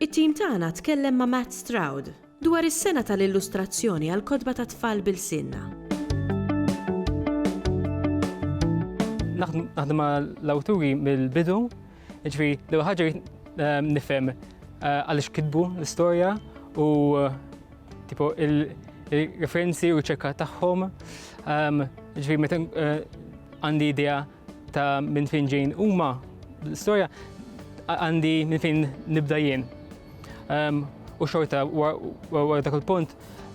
It-tim tagħna tkellem ma' Matt Stroud dwar is-sena tal-illustrazzjoni għall-kotba tat-tfal b'ilsienna. Naħdem ma' l-awturi mill-bidu, jiġifieri l-ewwel ħaġa rrid nifhem għaliex kitbu l-istorja u tipo il-referenzi u r-riċerka tagħhom. Jiġifieri meta għandi idea Ta' minn fejn ġejn huma l-istorja għandi minn fejn nibda jien. Ehm, u xorta wara dak il-punt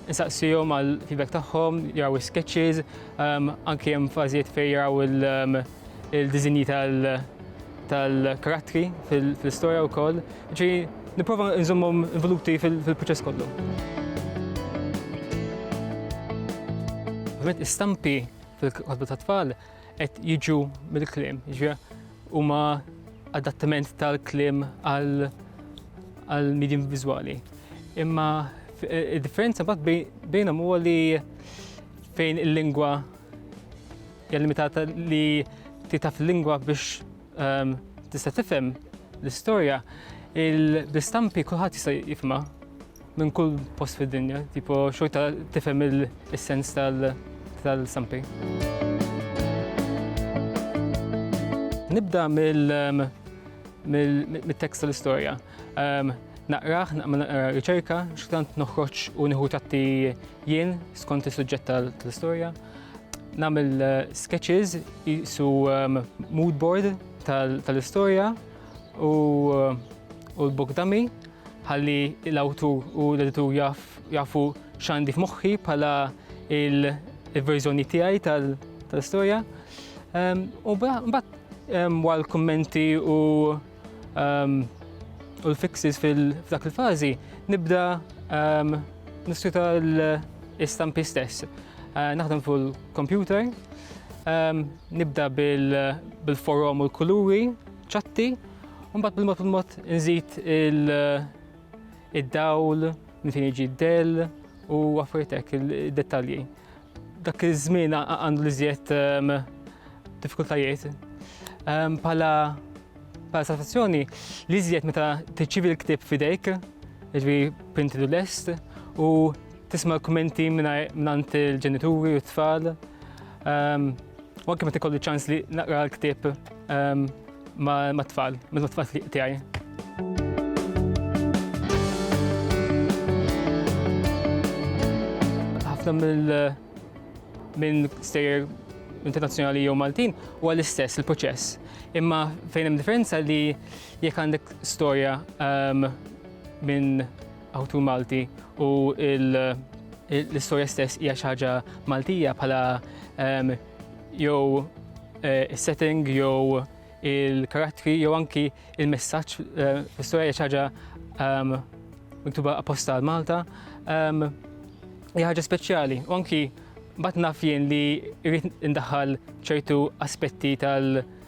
nsaqsihom għal feedback tagħhom, jaraw sketches, um, anke hemm fażijiet fejn jaraw um, il-dizinji tal-karattri fil-istorja wkoll. Ġi nipprova nżommhom involuti fil-proċess kollu. Ovvijament istampi fil-kotba tat-tfal qed jiġu mill-kliem. Huma adattament tal-kliem għal-medium vizuali. Imma eh, il-differenza bat bejnhom huwa li fejn il-lingwa hija limitata li titaf il-lingwa biex ehm, tista' tifhem l-istorja, il-bistampi kulħadd jista' jifhimha Minn kull post fid-dinja, tipo xorta tifhem il-sens tal-sampi. Nibda mill-tekst tal-istorja. Naqraħ, naqma naqra riċerka, xtant noħroġ u nieħu tatti jien skont is-suġġett tal-istorja. Nagħmel eh, sketches jisu ehm, mood board tal-istorja u eh, l-book dummy ħalli l-awtur u l-editur jafu x'għandi f'moħħi bħala il-verżjoni tiegħi tal-istorja. Ehm, u mbagħad ehm, wara l-kummenti u ehm, u l-fixes fil-dak il-fażi nibda nissuta l-istampi stess. Eh, naħdem fuq il-computer, nibda bil-forum u l-kuluri, ċatti, u mbagħad bil-mod il-mod nżid id-dawl, minn fejn jiġi d-dell u affarijiet hekk id-dettalji. Dak iż-żmien għandu li żjed ehm, diffikultajiet. Ehm, pala pala satisfazzjoni li żjed meta tiċċivi l-ktib fidejk, ġvi printi l lest u tisma' l-kummenti minn il-ġenituri u t-tfal. Ehm, u anke meta kollu ċans li naqra l-ktieb ehm, ma' tfal, ma' tfal li tiegħi. Ħafna mill minn stejjer internazzjonali jew Maltin u għall-istess il-proċess. Imma fejn hemm differenza li jekk għandek storja ehm, minn Awtur Malti u l-istorja stess hija xi ħaġa Maltija bħala ehm, jew eh, is-setting jew il-karattri jew anki il-messaġġ eh, l-istorja hija xi ħaġa ehm, miktuba apposta għal Malta. Ehm, hija ħaġa speċjali u anki bat naf jien li rrid indaħħal ċertu aspetti tal-